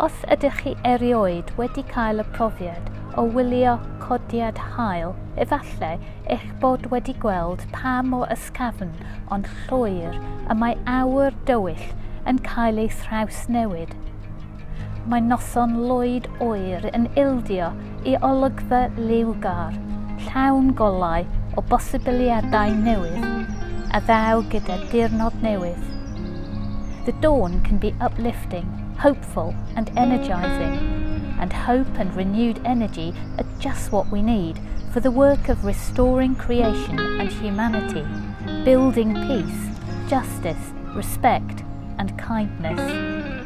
Os ydych chi erioed wedi cael y profiad o wylio codiad haul, efallai eich bod wedi gweld pa mor ysgafn ond llwyr y mae awyr dywyll yn cael ei thrawsnewid. Mae noson lwyd oer yn ildio i olygfa liwgar, llawn golau o bosibiliadau newydd, a ddaw gyda diwrnod newydd. The dawn can be uplifting, hopeful and energising, and hope and renewed energy are just what we need for the work of restoring creation and humanity, building peace, justice, respect and kindness.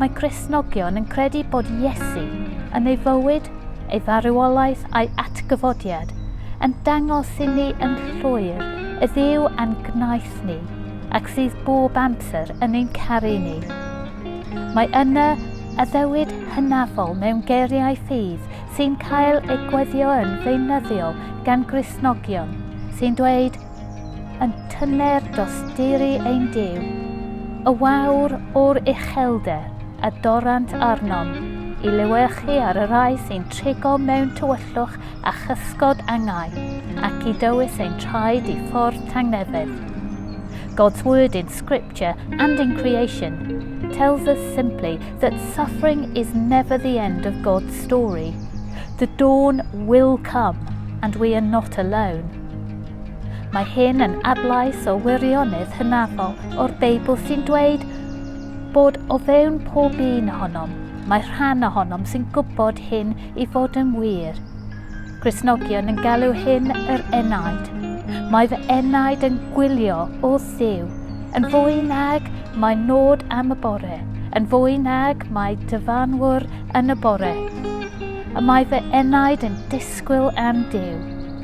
Mae Cristnogion yn credu bod Iesu, yn ei fywyd, ei farwolaeth a'i atgyfodiad, yn dangos i ni yn llwyr y Dduw a'n gwnaeth ni ac sydd bob amser yn ein caru ni. Mae yna addewid hynafol mewn geiriau ffydd sy'n cael eu gweddio yn feunyddiol gan Gristnogion sy'n dweud Yn tyner dosturi ein Duw, y wawr o'r uchelder a dorrant arnom i lewyrchu ar y rhai sy'n trigo mewn tywyllwch a chysgod angau, ac i dywys ein traed i ffordd tangnefedd. God's word in scripture and in creation tells us simply that suffering is never the end of God's story. The dawn will come and we are not alone. Mae hyn yn adlais o wirionedd hynafol o'r Beibl sy'n dweud bod o fewn pob un ohonom, mae rhan ohonom sy'n gwybod hyn i fod yn wir. Cresnogion yn galw hyn yr enaid. Mae fy enaid yn gwylio o ddiw, yn fwy nag mae nod am y bore, yn fwy nag mae dyfanwr yn y bore. Y mae fy enaid yn disgwyl am Dyw.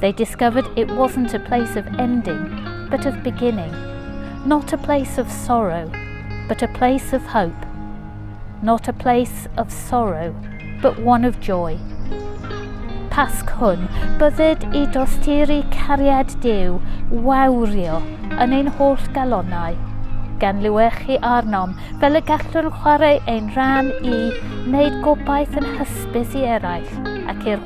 They discovered it wasn't a place of ending, but of beginning. Not a place of sorrow, but a place of hope. Not a place of sorrow, but one of joy. Pasg hwn, bydded i dosturi cariad Dyw wawrio yn ein holl galonau, gan liwechu arnom fel y gallwn chwarae ein rhan i wneud gobaith yn hysbys i eraill ac i'r